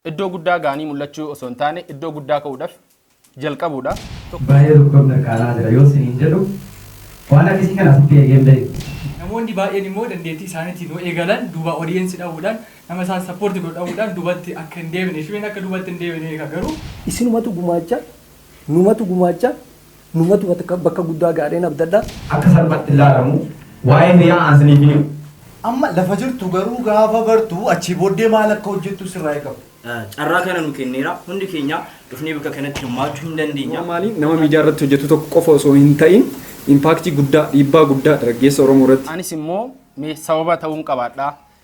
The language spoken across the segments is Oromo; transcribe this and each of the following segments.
Iddoo guddaa ga'anii mul'achuu osoo hin taane iddoo guddaa ka'uudhaf jalqabuudha. Baay'ee tokkoon mirqaanaa jira yoo siniin jedhu waan akkasii kana asitti eegee hin beeku. Namoonni baay'een immoo dandeettii isaaniitiin yoo eegalan duuba audience dhabuudhaan nama isaan support godhu dhabuudhaan duubatti akka hin deebine Shubeen akka duubatti hin deebine beeka garuu. Isinumatu gumaacha, numatu gumaacha, Numatu bakka guddaa ga'adheen abdadha. akka salphaatti hin laalamu. Waa'een riyaa aan siniif hin himu. Amma lafa jirtu garuu gaafa bartu achii booddee maal akka hojjettu sirraa eegama. Carraa kana nu kenneera. Hundi keenya dhufnee bakka kanatti hirmaachuu hin dandeenya. Bu'aa maalii nama miidiyaa irratti hojjetu tokko qofa osoo hin ta'iin impaaktii guddaa, dhiibbaa guddaa daraggeessa Oromoo irratti. Anis immoo mee sababa ta'uun qabaadhaa?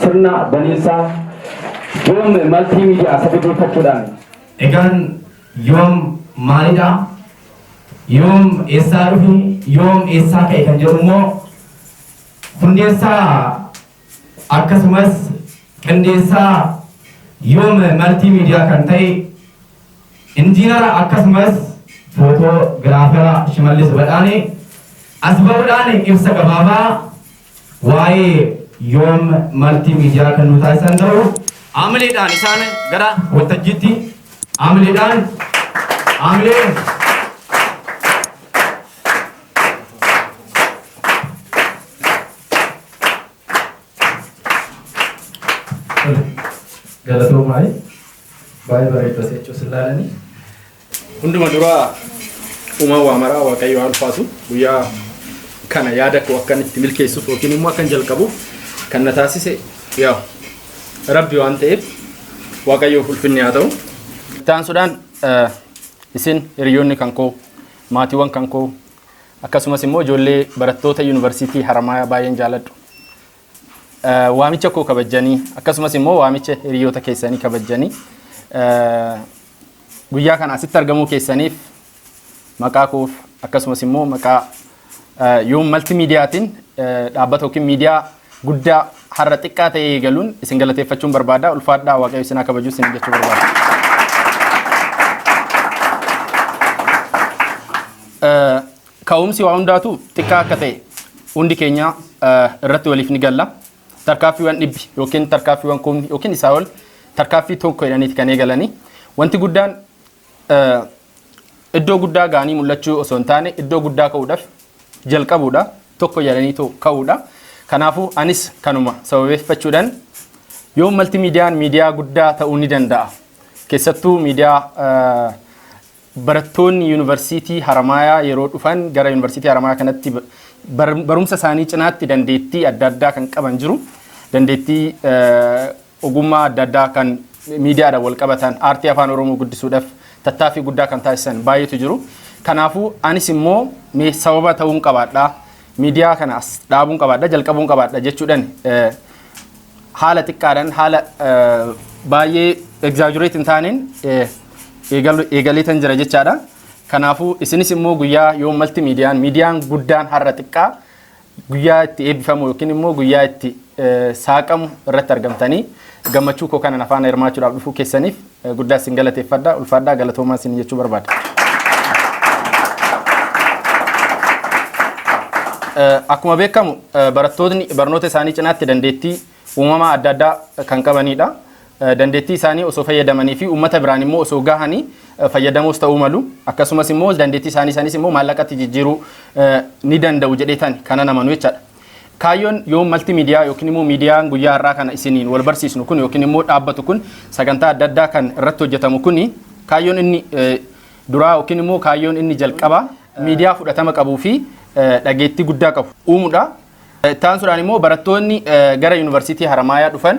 sirna baniinsaa yoom maltii miidiyaa sababeeffachuudhaan egaan yoom maalidha yoom eessaa dhufe yoom eessaa ka'e kan jedhu immoo hundeessaa Akkasumas qindeessaa Yoom Maltii Miidiyaa kan ta'e Injiinara akkasumas Footoo Giraafara Shimallis Badhaanee as ba'uudhaan ibsa gabaabaa waa'ee Yoom Maltii Miidiyaa kan nuu taasisan ta'uu Haamileedhaan isaan gara waltajjiitti haamileedhaan haamilee Galatoo maali? Baay'ee bareedda seechuu sin laalanii. Hunduma duraa uumaa waa maraa waaqayyo haa ulfaatu guyyaa kana yaada koo akkan itti milkeessuuf yookiin immoo akkan jalqabuuf kan na taasise yaa rabbi waan ta'eef waaqayyoof ulfinni haa ta'u. Itti aansuudhaan isin hiriyoonni kan koo maatiiwwan kan koo Akkasumas immoo ijoollee barattoota Yuunivarsiitii Haramaayaa baay'een jaaladhu. Waamicha koo kabajjanii akkasumas immoo waamicha hiriyoota keessanii kabajjanii guyyaa kana asitti argamuu keessaniif maqaa koof akkasumas immoo maqaa yoom malti miidiyaatiin dhaabbata yookiin miidiyaa guddaa har'a xiqqaa ta'ee eegaluun isin galateeffachuun barbaada. Ulfaadhaa waaqayyo isin haa kabaju isin jechuu barbaada. Eh, Ka'umsi waa hundaatu xiqqaa akka ta'e hundi keenya eh, irratti waliif ni galla. Tarkaaffiiwwan dhibbi yookiin tarkaaffiiwwan kumni yookiin isaa ol tarkaaffii tokko jedhaniiti kan eegalanii. Wanti guddaan eh, iddoo guddaa ga'anii mul'achuu osoo hin taane iddoo guddaa ka'uudhaaf jalqabuudha. Tokko jedhanii to- ka'uudha. Kanaafuu anis kanuma sababeeffachuudhaan yoo malti miidiyaan miidiyaa guddaa ta'uu ni danda'a. Keessattuu miidiyaa eh, Barattoonni Yuunivarsiitii Haramaayaa yeroo dhufan gara Yuunivarsiitii Haramaayaa kanatti barumsa isaanii cinaatti dandeettii adda addaa kan qaban jiru. Dandeettii ogummaa adda addaa kan miidiyaadhaan wal qabatan, aartii Afaan Oromoo guddisuudhaaf tattaaffii guddaa kan taasisan baay'eetu jiru. Kanaafuu anis immoo mee sababa ta'uun qabaadha, miidiyaa kana as dhaabuun qabaadha, jalqabuun qabaadha jechuudhaan haala xiqqaadhaan haala eh, baay'ee exaggerate hin taaneen eh, eegalu- eegaleetan jira jechaadha. Kanaafuu isinis immoo guyyaa yoo malti miidiyaan miidiyaan guddaan har'a xiqqaa guyyaa itti eebbifamu yookiin immoo guyyaa itti eh, saaqamu irratti argamtanii gammachuu koo kanan afaan hirmaachuudhaaf dhufuu keessaniif Guddaa isin galateeffadha. Ulfaadhaa galatoomaa isin jechuu barbaada. Akkuma beekamu barattootni barnoota isaanii cinaatti dandeettii uumamaa adda addaa kan qabanidha. Dandeettii isaanii osoo fayyadamanii fi uummata biraan immoo osoo gahanii fayyadamoos ta'uu malu. Akkasumas immoo dandeettii isaanii sanis immoo maallaqatti jijjiiruu ni danda'u jedheetan kanan amanu jechaadha. Kaayyoon yoo malti miidiyaa yookiin immoo miidiyaan guyyaa har'aa kana isiniin wal barsiisnu kun yookiin immoo dhaabbatu kun sagantaa adda addaa kan irratti hojjetamu kuni kaayyoon inni duraa yookiin immoo kaayyoon inni jalqabaa miidiyaa fudhatama qabuu fi dhageettii guddaa qabu uumuudha. Taansuudhaan immoo barattoonni gara yuunivarsiitii Haramaayaa dhufan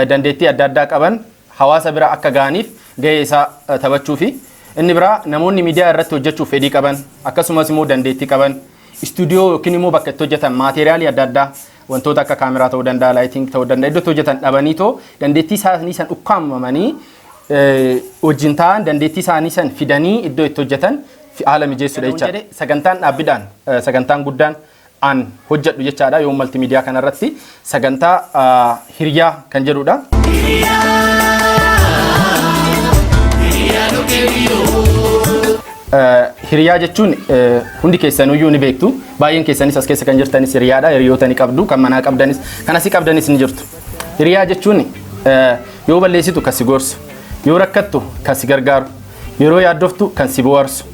dandeettii adda addaa qaban hawaasa bira akka ga'aniif ga'ee isaa taphachuufi. Inni biraa namoonni miidiyaa irratti hojjechuuf fedhii qaban akkasumas immoo dandeettii qaban istuudiyoo yookiin immoo bakka itti hojjetan maateeriyaalii adda addaa wantoota akka kaameraa ta'uu danda'a, laayiting ta'uu danda'a, iddoo itti hojjetan dhabanii too dandeettii isaanii san ukkaamamanii wajjin taa'an dandeettii isaanii san fidanii iddoo itti hojjetan haala mijeessuudha jechaadha. Sagantaan dhaabbidhaan sagantaan guddaan an hojjadhu jechaadha yoo malti miidiyaa kanarratti sagantaa hiriyaa kan jedhudha. Hiriyaa jechuun hundi keessanuyyuu ni beektu baay'een keessanis as keessa kan jirtanis hiriyaadha hiriyoota ni qabdu kan manaa qabdanis kan asii qabdanis ni jirtu hiriyaa jechuun yoo balleessitu kan si gorsu yoo rakkattu kan si gargaaru yeroo yaaddoftu kan si bohaarsu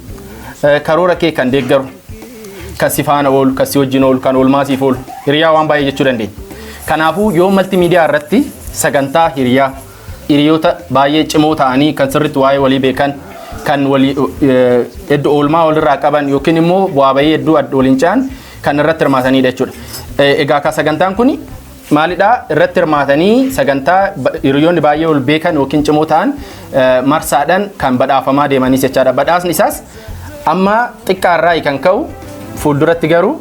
karoora kee kan deeggaru kan si faana oolu, kan si wajjin oolu, kan oolmaa siif oolu. Hiriyaa waan baay'ee jechuu dandeenya. Kanaafuu yoo malti miidiyaa irratti sagantaa hiriyaa hiriyoota baay'ee cimoo ta'anii kan sirriitti waa'ee walii beekan kan walii hedduu oolmaa walirraa qaban yookiin immoo bu'aa bahii hedduu waliin ce'an kan irratti hirmaatanidha jechuudha. Egaa kan sagantaan kun maalidha irratti hirmaatanii sagantaa ba- hiriyoonni baay'ee ol beekan yookiin cimoo ta'an eh, marsaadhaan kan badhaafamaa deemanis jechaadha. Badhaasni isaas amma xiqqaa irraa kan ka'u fuulduratti garuu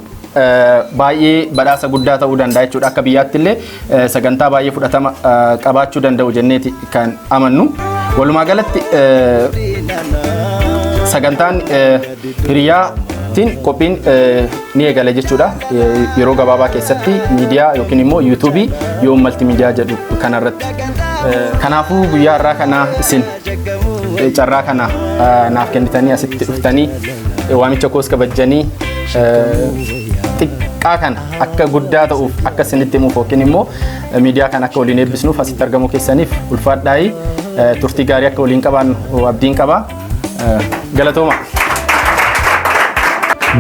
eh, baay'ee badhaasa guddaa ta'uu danda'a jechuudha. Akka biyyaatti illee eh, sagantaa baay'ee fudhatama eh, qabaachuu danda'u jenneeti kan amannu. Walumaa galatti eh, sagantaan eh, Hiriyaa tiin qophiin ni eegala jechuudha. Yeroo gabaabaa keessatti miidiyaa yookiin immoo yuutuubii yoom malti miidiyaa jedhu kanarratti. Kanaafuu guyyaa har'aa kana isin carraa kana naaf kennitanii asitti dhuftanii waamicha koos kabajjanii xiqqaa kana akka guddaa ta'uuf akka isinitti himuuf yookiin immoo miidiyaa kana akka waliin eebbisnuuf asitti argamuu keessaniif ulfaadhaayii turtii gaarii akka waliin qabaannu abdiin qaba. Galatooma.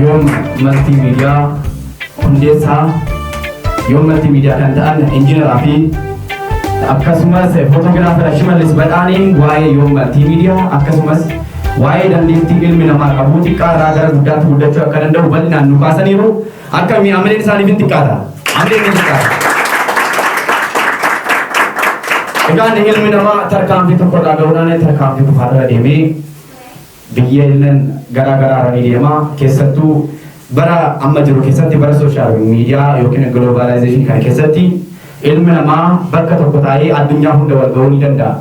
Yoom Maltii Miidiyaa hundeessaa Yoom Maltii Miidiyaa kan ta'an injiinaraa fi akkasumas footogiraafara Shimallis Badhaaneen waa'ee Yoom Maltii Miidiyaa akkasumas waa'ee dandeettii ilmi namaa qabu xiqqaa irraa gara guddaatti guddachuu akka danda'u bal'inaan nu kaasaniiru. Akkami amleen isaaniif hin xiqqaata. Amleen ni xiqqaata. Egaan ilmi namaa tarkaanfii tokko irraa ga'uudhaan tarkaanfii kufaa irra deemee biyyeelleen garaa garaa irra ni deema. Keessattuu bara amma jiru keessatti bara sooshaal miidiyaa yookiin giloobaalaayizeeshinii kana keessatti ilmi namaa bakka tokko taa'ee addunyaa hunda wal ga'uu ni danda'a.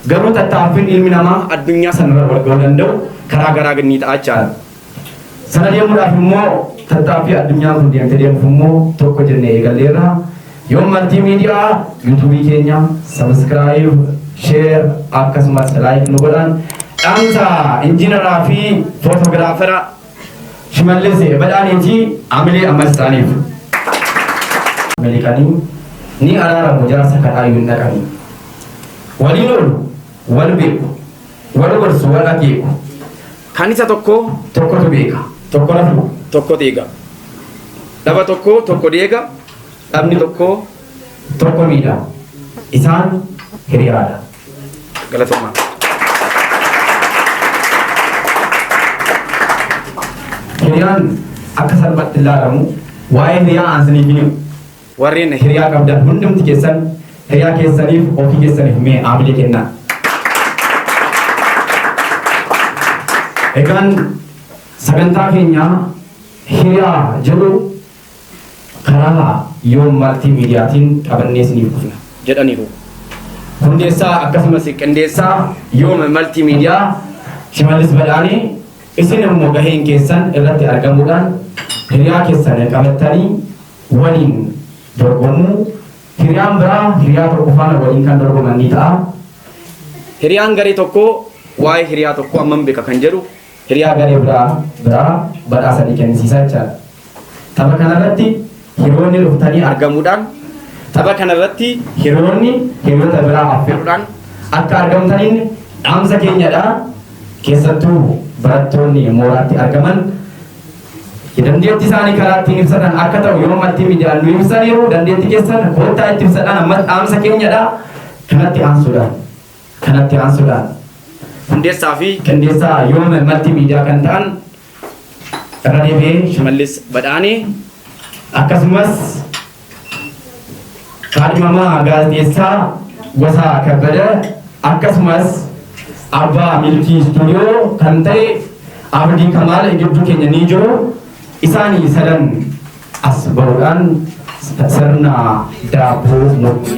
Garuu tattaaffiin ilmi namaa addunyaa sanarra wal ga'uu danda'u karaa garaa ni ta'a jechaadha. Sana deemuudhaaf immoo tattaaffii addunyaan kun deemte deemuuf immoo tokko jennee eegalleerra. Yoon maltii miidiyaa yuutuubii keenya sabiskiraayib, sheer akkasumas laayik nu godhan dhaamsa injiinaraa fi footogiraafera Shimallis Badhaaniitii Amilee ammas isaaniif. Ameerikanii ni araaramu jaarsa kadhaayyuu hin dhaqanii. Waliin oolu, wal beeku. Wal gorsu, wal akeeku. Kan isa tokko tokkotu beeka. Tokko rafu. Tokko deega. Dhaba tokko tokko deega. Dhabni tokko tokko miidha. Isaan hiriyaadha. Galatoomaa. Hiriyaan akka salphaatti ilaalamu waa'ee hiriyaa aansanii fi Warreen hiriyaa qabdan hundumti keessan hiriyaa keessaniif ofii keessaniif mee haamilee kennaa. Egaan sagantaa keenya hiriyaa jedhu karaa yoom maltii miidiyaatiin qabannee isiniif dhufna jedhaniiru. Hundeessaa akkasumas qindeessaa yoom maltii miidiyaa Shimallis Badhaanee isin immoo gaheen keessan irratti argamuudhaan hiriyaa keessan qabattanii waliin dorgomu. Hiriyaan biraa hiriyaa tokko faana waliin kan dorgoman ni ta'a. Hiriyaan garee tokkoo waa'ee hiriyaa tokkoo hammam beeka kan jedhu hiriyaa garee biraa biraa badhaasa ni kennisiisa jechaadha. Tapha kanarratti hiriyoonni dhuftanii argamuudhaan tapha kanarratti hiriyoonni hiriyoota biraa affeeruudhaan akka argamtaniin dhaamsa keenyadha. Keessattuu barattoonni mooraatti argaman Itti dandeetti isaanii karaa ittiin ibsatan akka ta'u yeroo maltiimiidiyaan nu ibsaniiru dandeetti keessan koottaa itti ibsadhaan ammas dhaamsa keenyadha kanatti aansuudhaan kanatti aansuudhaan hundeessaa fi qindeessaa yooma maltiimiidiyaa kan ta'an irra deebi'ee shimallis badhaanii akkasumas Kaadhimamaa Gaazexeessaa Gosaa Kabbada akkasumas abbaa milkii istuudiyoo kan ta'e Abdii Kamaal gidduu keenya ni jiru. Isaanii sadan as ba'uudhaan sirna daabboo murtii.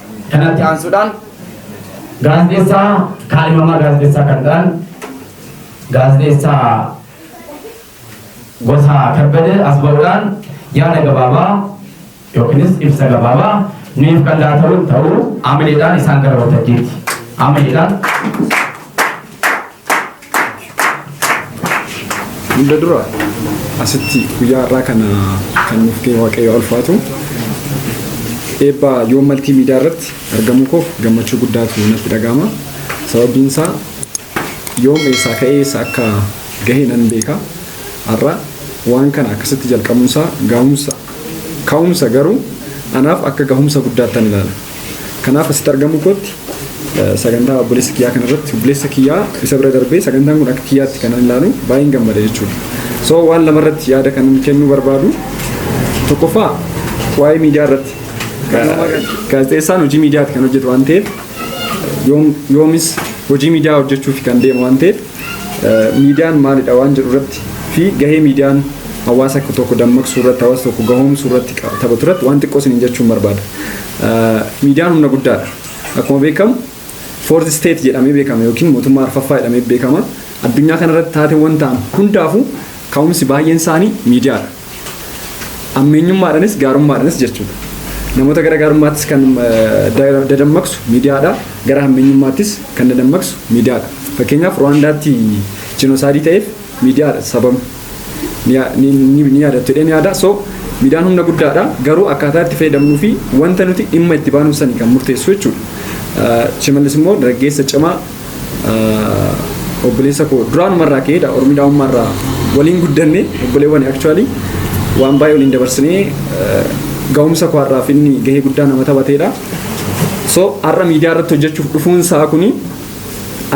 Kanatti aansuudhaan gaazexeessaa kaadhimamaa gaazexeessaa kan ta'an gaazexeessaa Gosaa Kabbadee as ba'uudhaan yaada gabaabaa yookiinis ibsa gabaabaa nuuf kan laataman ta'uu amaleedhaan isaan gara waltajjiitti amaleedhaan Hunda dura asitti guyyaa har'aa kana kan nuuf kee waaqayyo ulfaatu eebba yoo maltii miidiyaa irratti argamuu koof gammachuu guddaatu natti dhaga'ama. Sababiin isaa yoom eessaa ka'ee eessa akka gahee nan beeka. Har'a waan kana akkasitti jalqabuun isaa gahumsa ka'umsa garuu anaaf akka gahumsa guddaattan ilaala. Kanaaf asitti argamuu kootti sagantaa obboleessa kiyyaa kanarratti obboleessa kiyyaa isa bira darbee sagantaan kun akka kiyyaatti kanan ilaalu baay'een gammada jechuudha. So waan lamarratti yaada kanan kennuu barbaadu tokkoffaa waa'ee miidiyaa irratti gaazexeessaan hojii miidiyaatti kan hojjetu waan ta'eef yoomis hojii miidiyaa hojjechuuf kan deemu waan ta'eef miidiyaan maalidha waan jedhu irratti fi gahee miidiyaan hawaasa tokko dammaqsuu irratti hawaasa tokko gahoomsuu irratti taphatu irratti waan xiqqoo isiniin jechuun barbaada. Miidiyaan humna guddaadha. Akkuma beekamu fourth state jedhamee beekama yookiin mootummaa arfaffaa jedhamee beekama. Addunyaa kanarratti taateewwan ta'an hundaafuu ka'umsi baay'een isaanii miidiyaadha. Ammeenyummaadhanis gaarummaadhanis jechuudha. Namoota gara gaarummaattis kan dadammaqsu miidiyaadha. Gara hammeenyummaattis kan dadammaqsu miidiyaadha. Fakkeenyaaf Ruwaandaatti jinoosaayidii ta'eef miidiyaadha sababni. Ni yaadattu jedhee ni yaada. So miidiyaan humna guddaadha. Garuu akkaataa itti fayyadamnuu fi wanta nuti dhimma itti baanuuf sani kan murteessu jechuudha. Shimallis immoo dargaggeessa cimaa obboleessa koo duraanuma irraa ka'ee dha ormi daa'ummaa irraa waliin guddanne obboleewwan actually waan baay'ee waliin dabarsinee ga'umsa koo har'aaf inni gahee guddaa nama taphateedha. So har'a miidiyaa irratti hojjechuuf dhufuun isaa kuni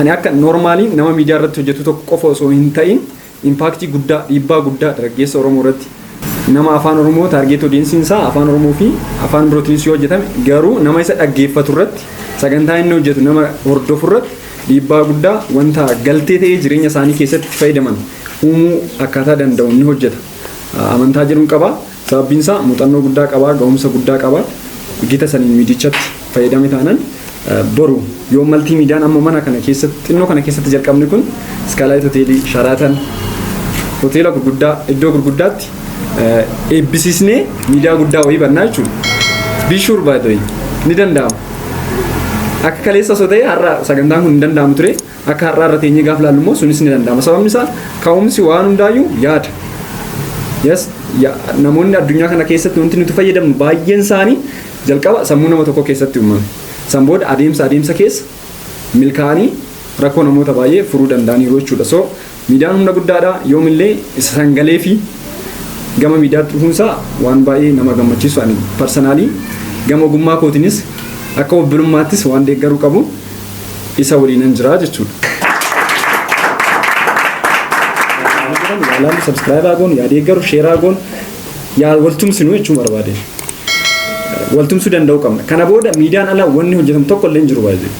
ani akka normaaliin nama miidiyaa irratti hojjetu tokko qofa osoo hin ta'in Impaaktii guddaa, dhiibbaa guddaa daraggeessa Oromoo irratti. Nama Afaan Oromoo target audience isaa Afaan Oromoo fi Afaan birootiinis yoo hojjetame garuu nama isa dhaggeeffatu irratti sagantaa inni hojjetu nama hordofu irratti dhiibbaa guddaa wanta galtee ta'ee jireenya isaanii keessatti itti fayyadaman uumuu akkaataa danda'u ni hojjeta amantaa jedhuun qaba. Sababbiin isaa muuxannoo guddaa qaba, ga'umsa guddaa qaba. Gita saniin miidiyichatti fayyadame taanan boru yoo maltii miidiyaan amma mana kana keessatti xinnoo kana keessatti jalqabni kun iskaalaayit hoteelii sharaatan hoteela gurguddaa iddoo gurguddaatti eebbisiisnee miidiyaa guddaa wayii bannaa jechuudha. Bishuur baay'ee ni danda'ama. Akka kaleessa osoo ta'e har'a sagantaan kun hin danda'amu ture. Akka har'aa irra teenyee gaaf laallu immoo sunis ni danda'ama. Sababni isaa ka'umsi waan hundaayyuu yaada. Yes, ya- namoonni addunyaa kana keessatti wanti nuti fayyadamnu baay'een isaanii jalqaba sammuu nama tokko keessatti uumame. San booda adeemsa adeemsa keessa milkaa'anii rakkoo namoota baay'ee furuu danda'aniiru jechuudha. So Miidiyaan humna guddaadha. Yoomillee isa san galeefi gama miidiyaatti dhufuunsaa waan baay'ee nama gammachiisu ani parsanaalii gama ogummaa kootiinis akka obbolummaattis waan deeggaruu qabu isa waliinan jira jechuudha. Yaalaallu sabskiraayibaa goonu yaa deeggaru sheeraa goonu yaa waltumsinu jechuun barbaade. Waltumsuu danda'uu qabna. Kana booda miidiyaan ala wanni hojjetamu tokko illee hin jiru baay'ee.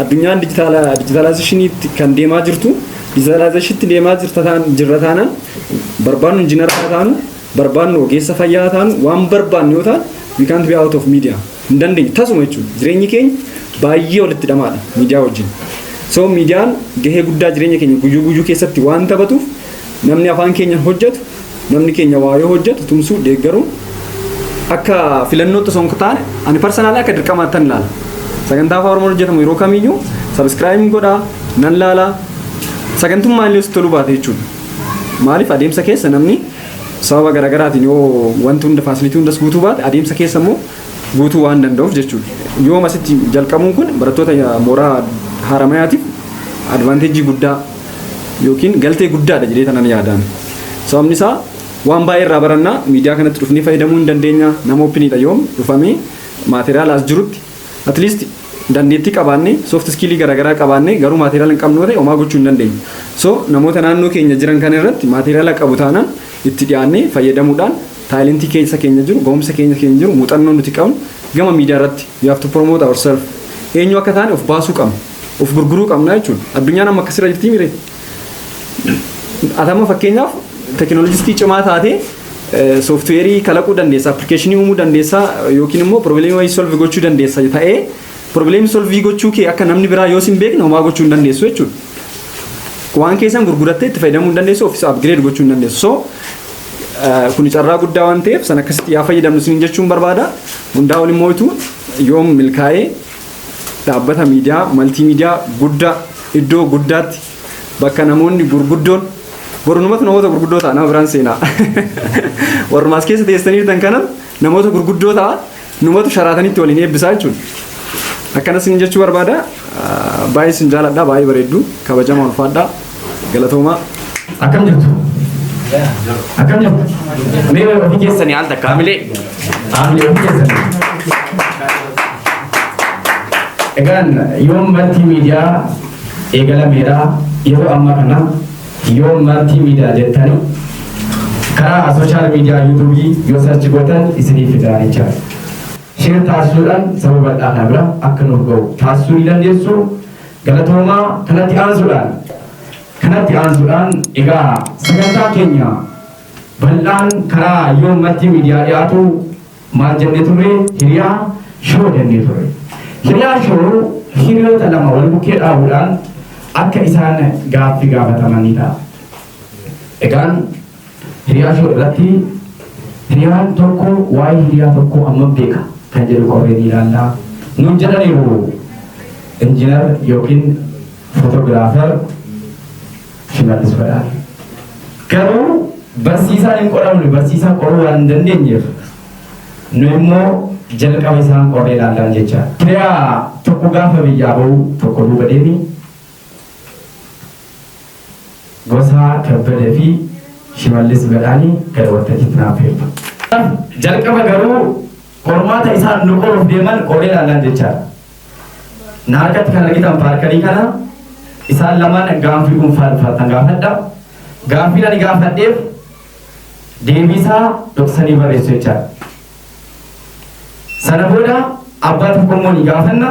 addunyaan dijitaalaayizeeshiniitti kan deemaa jirtu dijitaalaayizeeshiniitti deemaa jirra taanaan barbaadnu injiinara haa taanu barbaadnu ogeessa fayyaa haa taanu waan barbaadnu yoo ta'an we can't be out of media hin dandeenye tasuma jechuudha jireenyi keenya baay'ee walitti dhamaadha miidiyaa wajjin so miidiyaan gahee guddaa jireenya keenya guyyuu guyyuu keessatti waan taphatuuf Namni afaan keenyan hojjetu, namni keenya waa yoo hojjetu tumsuu, deeggaruun akka filannootti osoo hin taane ani parsanaalii akka dirqamaattan ilaala. Sagantaa afaan Oromoon hojjetamu yeroo kamiyyuu sabiskiraayibin godhaa, nan laala, sagantummaa illee sitti toluu baate jechuudha. Maaliif adeemsa keessa namni sababa garaagaraatiin yoo wanti hunda faasilitii hundas guutuu baate adeemsa keessa immoo guutuu waan danda'uuf jechuudha. Yooma asitti jalqabuun kun barattoota mooraa haaramayaatiif advaanteejii guddaa yookiin galtee guddaadha jedhee tanan yaadaan. Sababni isaa waan baay'ee irraa barannaa miidiyaa kanatti dhufnee fayyadamuu hin dandeenya nama oopiniidha yoom dhufamee maateriyaala as jirutti at least dandeettii qabaannee soft iskiilii garaagaraa qabaannee garuu maateriyaala hin qabnu ta'e homaa gochuu hin dandeenyu. So namoota naannoo keenya jiran kana irratti maateriyaala qabu taanaan itti dhiyaannee fayyadamuudhaan taayilentii keessa keenya jiru gahumsa keenya keenya jiru muuxannoo nuti qabnu gama miidiyaa irratti we have to promote ourselves eenyu akka taane of baasuu qabna. Of gurguruu qabna jechuun addunyaan amma akkasirra jirtii mire. Atama fakkeenyaaf teekinooloojistii cimaa taatee sooftiweerii kalaquu dandeessa, appilikeeshinii uumuu dandeessa yookiin immoo piroobileemii wayii solvi gochuu dandeessa ta'ee piroobileemii solvii gochuu kee akka namni biraa yoo sin beekne homaa gochuu hin dandeessu jechuudha. Waan keessan gurgurattee itti fayyadamuu hin dandeessu ofiis upgrade gochuu hin dandeessu. So kuni carraa guddaa waan ta'eef san akkasitti yaa fayyadamnu sin jechuun barbaada. Hundaa ol immoo yoom milkaa'ee dhaabbata miidiyaa maltiimiidiyaa guddaa iddoo guddaatti bakka namoonni gurguddoon bornumatu namoota gurguddoo ta'a nama biraan seenaa warrumaa as keessa teessaniirtan kana namoota gurguddoo ta'a numatu sharaatanitti waliin eebbisaa jechuudha. Akkanas isin jechuu barbaada baay'ee isin jaaladha baay'ee bareeddu kabajamaa ulfaadha Galatoomaa. Akkam jirtu? Akkam jirtu? Mee ofii keessanii al takka hamilee. Hamilee ofii keessanii. Egaan yoon marti miidiyaa eegalameera yeroo ammaa kana yoon marti miidiyaa jettanii karaa sooshaal miidiyaa yuutuubii yoo sarchi gootan isiniif fidaa jecha. Sheer taasisuudhaan sababa bal'aa kana bira akka nuuf ga'u taasisuu ni dandeessu. Galatoomaa kanatti aansuudhaan kanatti aansuudhaan egaa sagantaan keenya bal'aan karaa yoom martii miidiyaa dhiyaatu maal jennee turre hiriyaa shoo jennee turre hiriyaa shoo hiriyoota lama wal bukkee dhaabuudhaan akka isaan gaaffi gaafatamanii ta'a egaan Hiriyaa Show irratti hiriyaan tokko waa'ee hiriyaa tokkoo hammam beeka kan jedhu qorree ni ilaalla. Nuun jedhaniiru injiinar yookiin footogiraafer Shimallis Badhaadha. Garuu barsiisaan hin qoramne barsiisaa qoruu waan hin dandeenyeef nu immoo jalqaba isaan qorree ilaallaan jecha. Hiriyaa tokko gaafa biyyaa bahu tokko duuba deemi Mosaa Kabbada fi Shimallis Badhaani gara waltajjiitti na affeertu. Jalqaba garuu qormaata isaan nu qoruuf deeman qoree ilaallaan jechaadha. Na harkatti kan argitan paarkarii kana isaan lamaan gaaffii dhuunfaa dhufaatan gaafadha. Gaaffiin ani gaafadheef deebii isaa dhoksanii barreessu jechaadha. Sana booda abbaa tokko immoo ni gaafanna.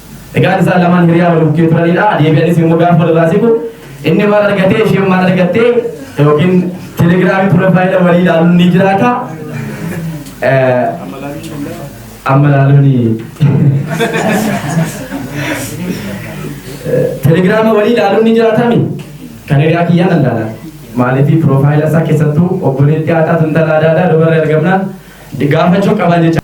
Egaan isaan lamaan hiriyaa wal bukkee turanidha. Deebi'anis immoo gaafa walirraa siqu inni maal argatee isheen maal argattee yookiin telegiraamii piroofaayila walii ilaaluun ni jiraata. Eh, Amma ilaaluuni. Eh, Telegiraama walii ilaaluun ni jiraatami. Kan hiriyaa kiyyaan allaala. Maaliifii piroofaayila isaa keessattuu obboleettii haa taatu intala aadaa aadaa dubarra ergamnaan gaafachuu qaban jecha.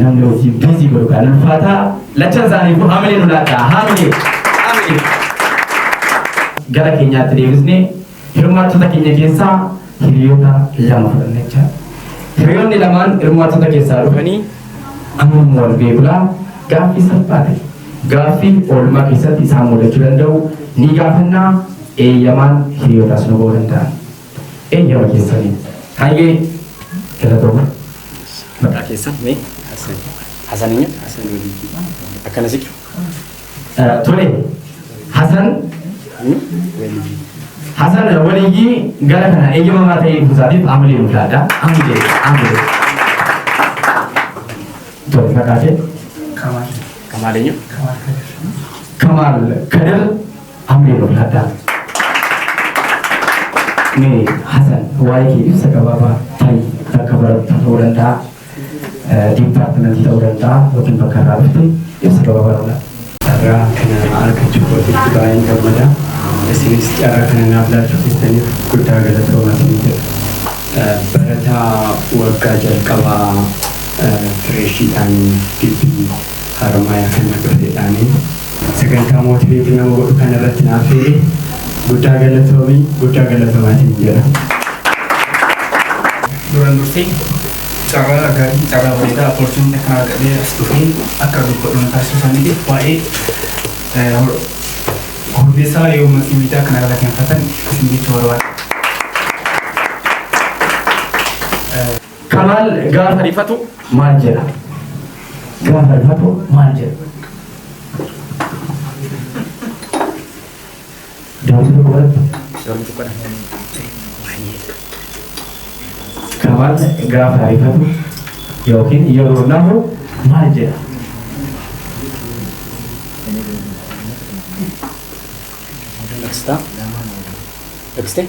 Namni hojiin biizii godhu kan ulfaataa lachan isaaniifu hamilee nu laadhaa hamilee hamilee. Gara keenyaatti deebisnee hirmaattota keenya keessaa hiriyoota lama fudhanna jecha. Hiriyoonni lamaan hirmaattota keessaa dhufanii amma immoo wal beekula gaaffii salphaa ta'e gaaffii oolmaa keessatti isaan mudachuu danda'u ni gaafannaa eeyyamaan hiriyootaas nu ba'uu danda'an. eeyyama keessaniin. Hayyee galatooma. Maqaa keessan mee? Hasan. Hasan eenyu? Hasan Waliitii. Akkana siqi. Tole Hasan Waliitii. Hasan Waliitii gara kana eeyyamamaa ta'ee dhufuusaatiif amilee nu laadha. Amilee amilee. Tole maqaa kee? Kamaal. Kamaal eenyu? Kamaal Kadir. Kamaal Kadir. Ameen ulfaadhaa. Mee Hasan waa'ee kee ibsa gabaabaa ta'i bakka barattu ta'uu danda'a. Diippaartimentii ta'uu danda'a yookiin bakka irraa dhufte ibsa gabaabaa ta'uu danda'a. Carraa kana argachuu kootitti baay'een gammada. Isinis carraa kana naaf laachuu keessaniif guddaa galatoomaa isin jedha. Barataa waggaa jalqabaa fireeshiidhaan gibbii Haromaya kan na birredhaani sagantaa motivate nama godhu kana irratti na affeere guddaa galatoomi guddaa galatoomaa siin jedha. Duraan dursee carraa gaarii carraa bareedaa opportunity kana argadhee as dhufee akka dubbadhu na taasisuu isaaniitiif baay'ee hordeessaa yoo matii miidiyaa kana irra keenfatan isin jechuu barbaada. Kamaal gaafa rifatu maal jedha? Gaafa rifatu maal jedha? Daawwitii tokko irratti Kamaal gaafa rifatu yookiin yeroo nahu maal jedha? Next time. Next time.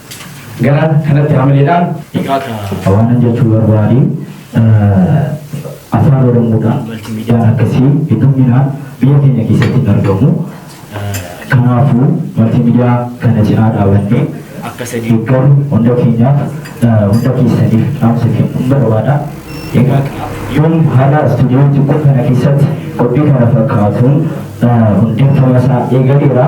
Gara kanatti hamileedhaan dhihaata. Waanan jechuu barbaade afaan Oromoodhaan maltiimiidiyaan akkasii hedduminaan biyya keenya keessatti hin argamu. Kanaafuu maltiimiidiyaa kana cinaa dhaabannee akka sadii garuu hunda keenyaaf hunda keessaniif dhaamsa kennuun barbaada. Egaa yoon haala istuudiyoo xiqqoo kana keessatti qophii kana fakkaatuun hundeeffama isaa eegaleera.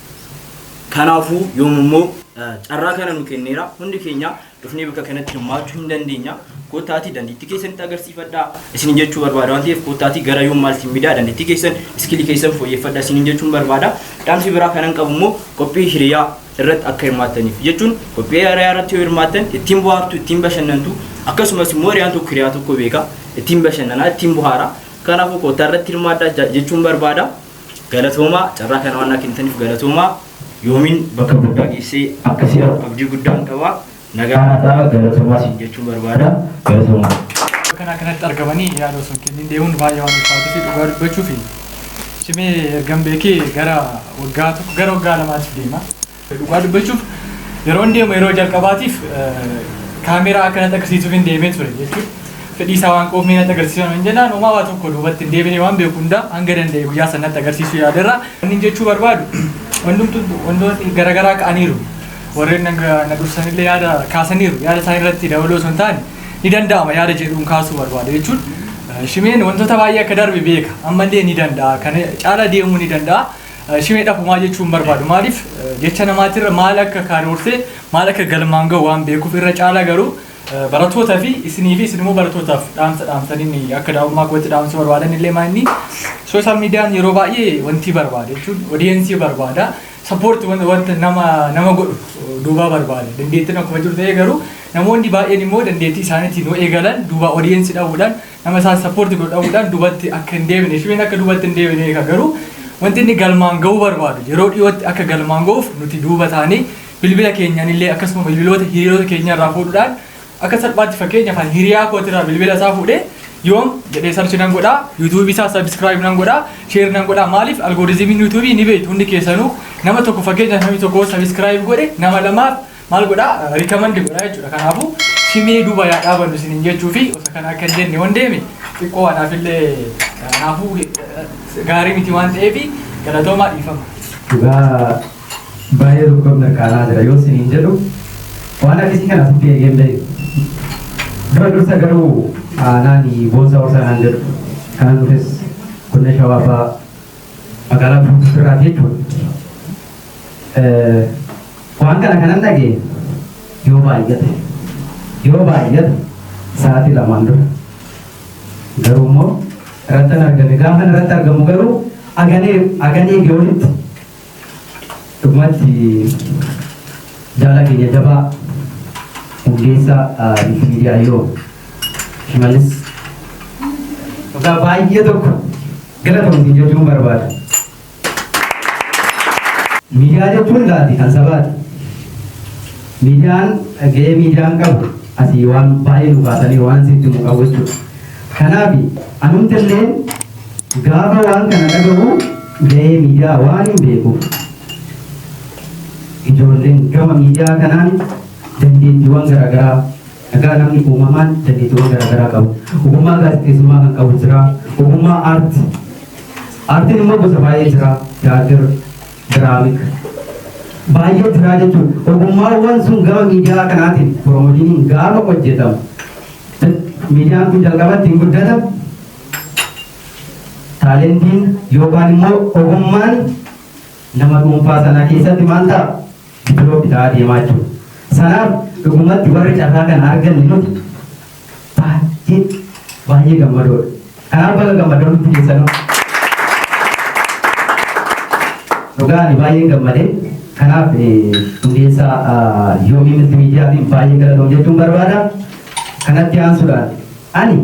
Kanaafuu yoom immoo carraa kana nu kenneera. Hundi keenya dhufnee bakka kanatti hirmaachuu hin dandeenya. Kottaatii dandeettii keessanitti agarsiifadhaa. Isiniin jechuu barbaada waan ta'eef kottaatii gara yoom maaltiin midaa dandeettii keessan iskilii keessan fooyyeffadhaa isiniin jechuun barbaada. Dhaamsi biraa kanan qabu immoo qophii hiriyaa irratti akka hirmaattaniif jechuun qophii hiriyaa irratti yoo hirmaattan ittiin bohaartu ittiin bashannantu akkasumas immoo hiriyaan tokko hiriyaa tokko beeka ittiin bashannanaa ittiin bohaara. Kanaafuu kottaa irratti hirmaadhaa jechuun barbaada. Galatoomaa carraa kana waan naa kennitaniif galatoomaa yoomiin bakka guddaa geessee akka si argu abdii guddaan qaba nagaa naa ta'a galatoomaa siin jechuun barbaada galatoomaa. Bakka kanaa kanatti argamanii yaada osoo hin kenniin deemuun baay'ee waan ulfaatuu fi dhugaa dubbachuuf cimee ergan beekee gara waggaa tokko gara waggaa lamaatiif deema. Dhugaa dubbachuuf yeroon deemu yeroo jalqabaatiif kaameeraa akka natti agarsiisuuf hin deemee ture jechuudha. Fedhii isaa waan qabuuf mee natti agarsiisan hin jennaan homaa waa tokko duubatti hin deebine waan beeku hundaa hanga danda'e guyyaa sana natti agarsiisuu yaaderra. Wanni jechuu barbaadu wantoonni garaagaraa ka'aniiru. Warreen na dursanillee yaada kaasaniiru. Yaada isaanii irratti dabaloo osoo hin taane ni danda'ama yaada jedhuun kaasuu barbaada jechuun shimeen wantoota baay'ee akka darbe beeka ammallee ni danda'a kana caala deemuu ni danda'a. Shimee dhabumaa jechuun barbaadu maaliif jecha namaatirra maal akka karoortee maal akka galmaan ga'u waan beekuuf irra caalaa garuu barattoota fi isinii fi isinimmoo barattootaaf dhaamsa dhaamsaniin akka daa'ummaa kootti dhaamsa barbaadan illee maanni sooshaal miidiyaan yeroo baay'ee wanti barbaada jechuun odiyeensii barbaada sappoorti wanta nama nama godhu duubaa barbaada dandeettiin akkuma jiru ta'ee garuu namoonni baay'een immoo dandeettii isaaniitiin yoo eegalan duubaa odiyeensii dhabuudhaan Nama isaan sappoorti godhu dhabuudhaan dubatti akka hin deebine shibeen akka dubatti hin deebine eega garuu wanti inni galmaan ga'uu barbaadu yeroo dhiyootti akka galmaan ga'uuf nuti duuba taanee bilbila keenyaan illee akkasuma bilbiloota hiriyoota keenya irraa fuudhuudhaan akka salphaatti fakkeenyaaf ani hiriyaa kootirraa bilbila isaa fuudhee yoom jedhee sarchi nan godhaa yuutuubii isaa sabiskiraayib nan godhaa sheer nan godhaa maaliif algooriizimiin yuutuubii ni beektu hundi keessanuu nama tokko fakkeenyaaf namni tokko sabiskiraayib godhe nama lamaaf maal godha recommend godha jechuudha kanaafu simee duba yaa dhaabannu isinin jechuu fi osa kana akka hin jenne wan deeme xiqqoo anaaf illee kanaafuu gaarii miti waan ta'eef galatoomaa dhiifama. Dhugaa baay'ee tokkoon mirkaanaa jira yoo isinin jedhu waan akkasii kana asitti eegeen ba'e. Dura dursa garuu aanaan boosa horsaa naan jedhu kanan dhufes godina shawaa fa'aa magaalaa Burbuutti irraa jechuudha. Waan kana kanan dhagee yoo baay'ate yoo baay'ate sa'aatii lamaan dura garuu immoo irratti argame gaafa irratti argamu garuu aganee aganee geolitti Dhugumatti jaalaa keenya jabaa hundeessaa Miitii Miidiyaa Yoo Shimallis dhugaa baay'ee tokko galatoomsiin jechuun barbaada. Miidiyaa jechuun laati kan sabaati. Miidiyaan gahee miidiyaan qabu asii waan baay'ee nu kaasanii waan sitti nu qabu jechuudha. Kanaaf anumti illee gaafa waan kana dhagahu Gahee miidiyaa waanin beekuuf ijoolleen gama miidiyaa kanaan dandeettiiwwan garaagaraa egaa namni uumamaan dandeettiiwwan garaagaraa qabu. Ogummaa gaazexeessummaa kan qabu jira. Ogummaa aartii. Aartiin immoo gosa baay'ee jira. Tiyaatir, diraamik. Baay'ee jira jechuun ogummaawwan sun gama miidiyaa kanaatiin piroomojiiniin gaafa hojjetamu. Miidiyaan kun jalqabatti hin guddata. Taalentiin yookaan immoo ogummaan nama dhuunfaa sanaa keessatti maal ta'a? Diviloopi ta'aa deemaa jiru. Sanaaf dhugumatti warri carraa kana arganne nuti baay'ee baay'ee gammadoodha. Kanaaf baga gammadan hundi keessanuu. Dhugaa ani baay'een gammade. Kanaaf hundeessaa yoomii mitti miidiyaatiin baay'ee galatoom jechuun barbaada. Kanatti aansuudhaan ani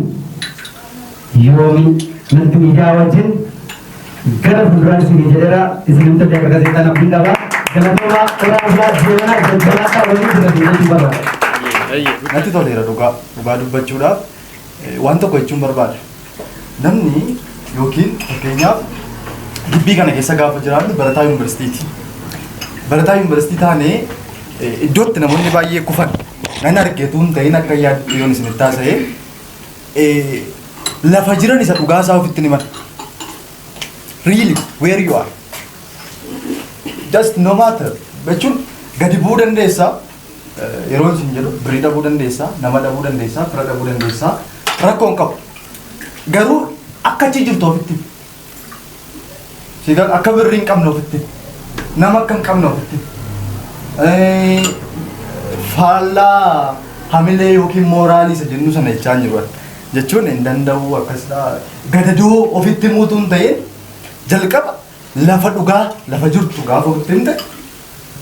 Yoomi natti miidiyaa wajjin gara fuulduraan isinii jedheera isin hunda akka gazeexaan abdiin qaba. Galatoomaa qoraa bulaa deemanaa jajjabaadhaa waliin jira jechuu barbaada. Natti toleera dhugaa dhugaa dubbachuudhaaf eh, waan tokko jechuun barbaada. Namni yookiin fakkeenyaaf gibbii kana keessa gaafa jiraannu barataa yuunivarsiitiiti. Barataa yuunivarsiitii taanee eh, iddootti namoonni baay'ee kufan nan argeetu hin ta'in akka yaaddu yoon isinitti haasa'e lafa jiran isa dhugaa isaa ofitti himan. Really, where you are. Just no matter. Jechuun gadi bu'uu dandeessa. Yeroo isin jedhu birrii dhabuu dandeessa, nama dhabuu dandeessa, fira dhabuu dandeessa. Rakkoon qabu. Garuu akka achi jirtu ofitti. Sigal akka birri hin qabne ofitti. Nama akka hin qabne ofitti. Eh, Faallaa hamilee yookiin mooraalii isa jennu sana jechaa hin jiru. Jechuun hin danda'u akkasidha. Gadadoo ofitti muutuu hin ta'in jalqaba lafa dhugaa lafa jirtu gaafa ofitti himte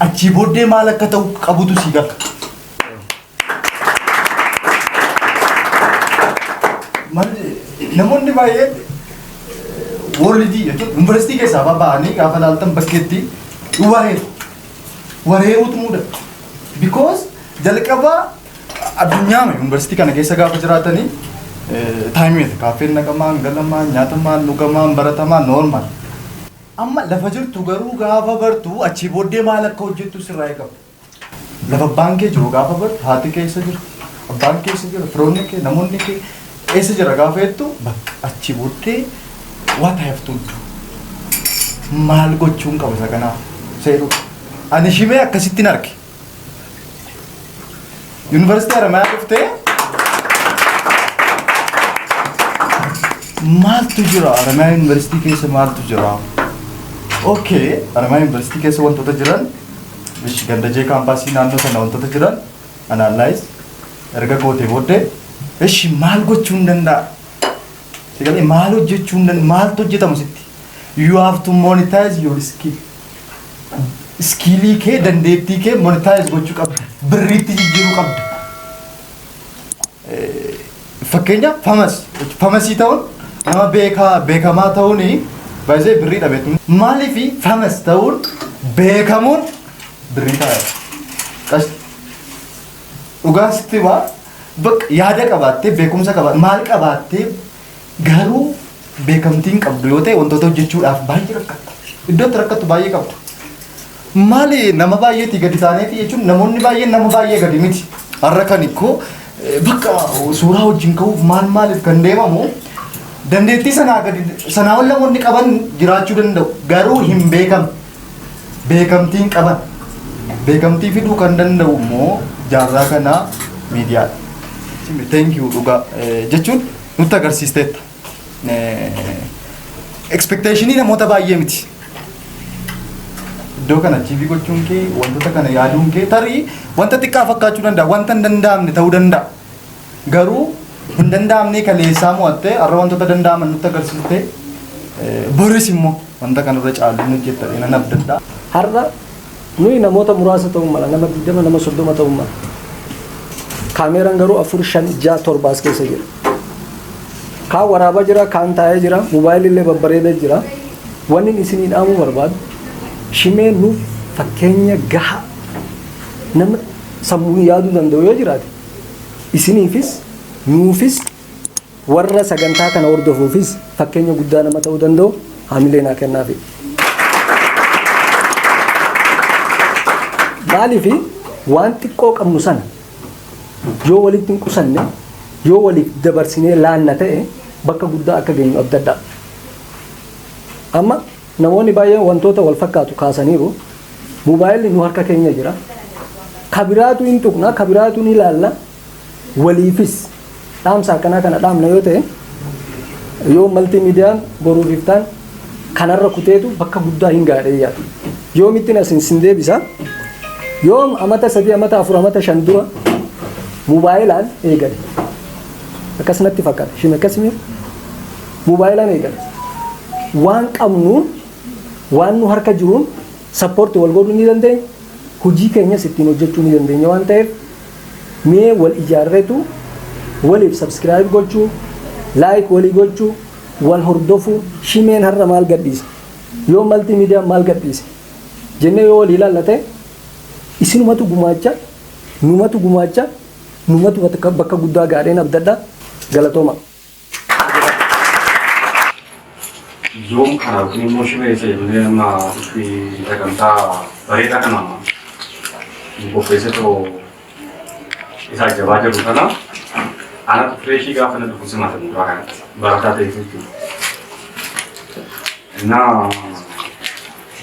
achii booddee maal akka ta'u qabutu sii gala. Namoonni baay'een worlidii jechuun yuunivarsiitii keessaa baba'anii gaafa laaltan bakkeetti wareeru. Wareeruutu mudata. Because jalqaba addunyaa yuunivarsiitii kana keessa gaafa jiraatanii taayimiidha. Kaaffeen naqamaan, galamaan, nyaatamaan, dhugamaan, baratamaan, noormaal. Amma lafa jirtu garuu gaafa bartu achii booddee maal akka hojjettu sirraa eegama. Lafa abbaan kee jiru gaafa bartu haati kee eessa jira? Abbaan kee eessa jira? Firoonni kee namoonni kee eessa jira gaafa jettu bakka achi booddee what I have to do. Maal gochuun qaba isa kanaaf? Seeruu. Ani shimee akkasittiin arge. Yuunivarsiitii Haramayaa dhuftee maaltu jira Haramayaa Yuunivarsiitii keessa maaltu jira? Okay, Haramayaa Yuunivarsiitii keessa wantoota jiran Ish ganda jee kaampaasii naannoo sana wantoota jiran analyze erga gootee booddee ishi maal gochuun danda'a? Si galee maal hojjechuun danda'a? Maaltu hojjetamu sitti? You have to monetize your skill. Iskiilii kee dandeettii kee monetize gochuu qabda. Birriitti jijjiiruu qabda. Fakkeenya famas famasii ta'uun nama beekaa beekamaa ta'uun baay'ee birrii dhabeetu. Maaliif famas ta'uun beekamuun birrii ta'a. Qas dhugaa sitti himaa bakka yaada qabaattee beekumsa qabaattee maal qabaattee garuu beekamtiin qabdu yoo ta'e wantoota hojjechuudhaaf baay'ee rakkatta. Iddoo itti rakkattu baay'ee qabda. Maali nama baay'eetii gadi taaneeti jechuun namoonni baay'een nama baay'ee gadi miti. Har'a kan ikkoo bakka suuraa wajjin ka'uuf maal maaliif kan deemamu dandeettii sanaa gadi sanaa ol namoonni qaban jiraachuu danda'u garuu hin beekam beekamtiin qaban beekamtii fiduu kan danda'u immoo jaarraa kanaa miidiyaadha. Thank you dhugaa jechuun nutti agarsiisteetta. Expectationii namoota baay'ee miti. Iddoo kana achiivii gochuun kee wantoota kana yaaduun kee tarii wanta xiqqaa fakkaachuu danda'a wanta hin danda'amne ta'uu danda'a. Garuu hin danda'amne kaleessaa mo'attee har'a wantoota danda'aman nutti agarsiiste boris immoo wanta kanarra caalu hin hojjetta jedhanii nan abdadha. Har'a Nuyi namoota muraasa ta'uu mala, nama 20, nama 30 ta'uu mala. Kaameeraan garuu 4, 5, 6, 7 as keessa jira. Kaan waraabaa jira, kaan taa'ee jira, mobaayilii illee babbareedee jira. Wanni isinii dhaamuu barbaadu shimee nuuf fakkeenya gahaa nama sammuun yaaduu danda'u yoo jiraate isiniifis nuufis Warra sagantaa kana hordofuufis fakkeenya guddaa nama ta'uu danda'u hamilee naa kennaafi. Maaliif waan xiqqoo qabnu sana yoo walitti hin qusanne yoo waliif dabarsinee laanna ta'e bakka guddaa akka geenyu abdadhaa. Amma namoonni baay'een wantoota wal fakkaatu kaasaniiru. Moobaayilli nu harka keenya jira. Kabiraatu hin tuqna, kabiraatu ni ilaalla, waliifis dhaamsa akkanaa kana dhaamna yoo ta'e yoo maltii miidiyaan boruuf iftaan kanarra kuteetu bakka guddaa hin gaadhee yaadu. Yoo mittiin asin sin deebisa yoo amata sadii amata afur amata shan dura mubaayilaan eegale. Akkas natti fakkaata ishiin akkas miira mubaayilaan eegale. Waan qabnuun waan nu harka jiruun sappoorti wal godhuu ni dandeenya. Hojii keenyas ittiin hojjechuu ni dandeenya waan ta'eef Mee wal ijaarretu waliif subscribe gochuu like walii gochuu wal hordofuu shimeen har'a maal gadhiise yoo maltii miidiyaan maal gadhiise jennee yoo walii ilaalla ta'e isinumatu gumaacha numatu gumaacha numatu bakka guddaa gaadheen abdadha galatooma. Yoom kana yookiin immoo shimee isa jennee amma itti sagantaa bareedaa kana nu qopheessee too isaa jabaa jiru kana ana fireeshii gaafa na dhufu simaata mucaa kanatti barataa ta'eef jechuudha. Innaa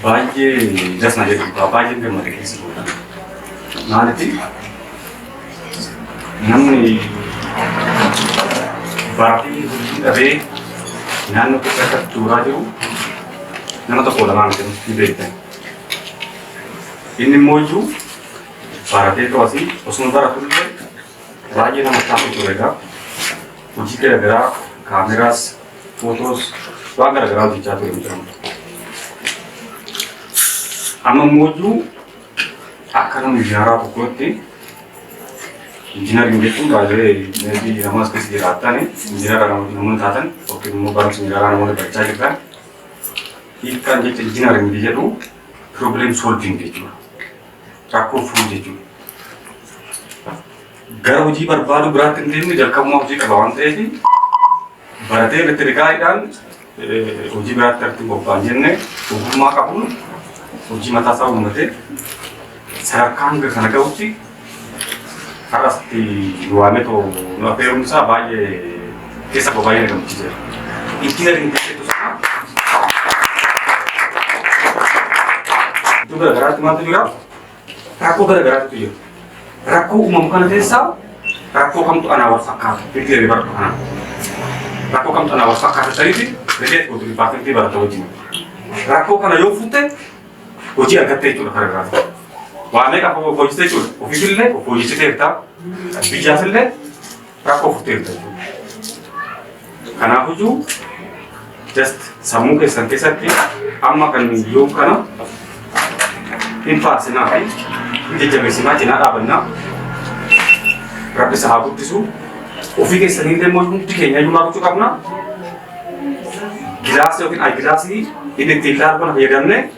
Baay'ee das na jedhu dhugaa baay'ee gammade keessa goota. Maalitti namni baafii hojii dhabee naannoo keessa akka tuuraa jiru nama tokko lamaa miti ni beektan. Inni immoo iyyuu baratee to'atii osuma baratu illee baay'ee nama taatu turedha. Hojii garaagaraa kaameraas Photos waan gara garaa hojjechaa ture mucaan. Amma immoo iyyuu akka nama injinaraa tokkootti injinariin jechuun baay'ee meetii namas keessa jiraatan injinara namoonni taatan yookiin immoo barumsa injinaraa namoonni barachaa jirtan hiikkaan jecha injinariin jedhu problem solving jechuudha. Rakkoo furuu jechuudha. Gara hojii barbaaduu biraatti hin deemne jalqabuma hojii qaba waan ta'eef baratee elektirikaaliidhaan hojii biraatti irratti bobba'an jenne ogummaa qabuun hojii mataa isaa uummatee sadarkaa hanga kana ga'utti har'asti waamee too nu affeeruun isaa baay'ee keessa koo baay'ee na gammachiiseera. Injiinariin keessattuu sana iddoo garaagaraatti maaltu jira? rakkoo gara garaatu jiru. Rakkoo uumamu kana keessaa rakkoo kamtu anaa wal fakkaata itti jedhee baratu kana. Rakkoo kamtu anaa wal fakkaata ta'eeti rilee kootu dhibbaatamtii barata wajjin. Rakkoo kana yoo fuutte hojii argattee jechuudha kana irraa. Waa meeqa hojjete jechuudha. Ofiisillee of hojjechiteerta. Biyyaafillee rakkoo furtee bitta jechuudha. Kanaaf iyyuu just sammuu keessan keessatti amma kan yoom kana hin faarsinaa fi hin jajjabeessinaa cinaa dhaabannaa rabbisa haa guddisu ofii keessanii illee immoo hundi keenya iyyuu maal gochuu qabna gilaasii yookiin ayigilaasii inni ittiin ilaalu kana fayyadamnee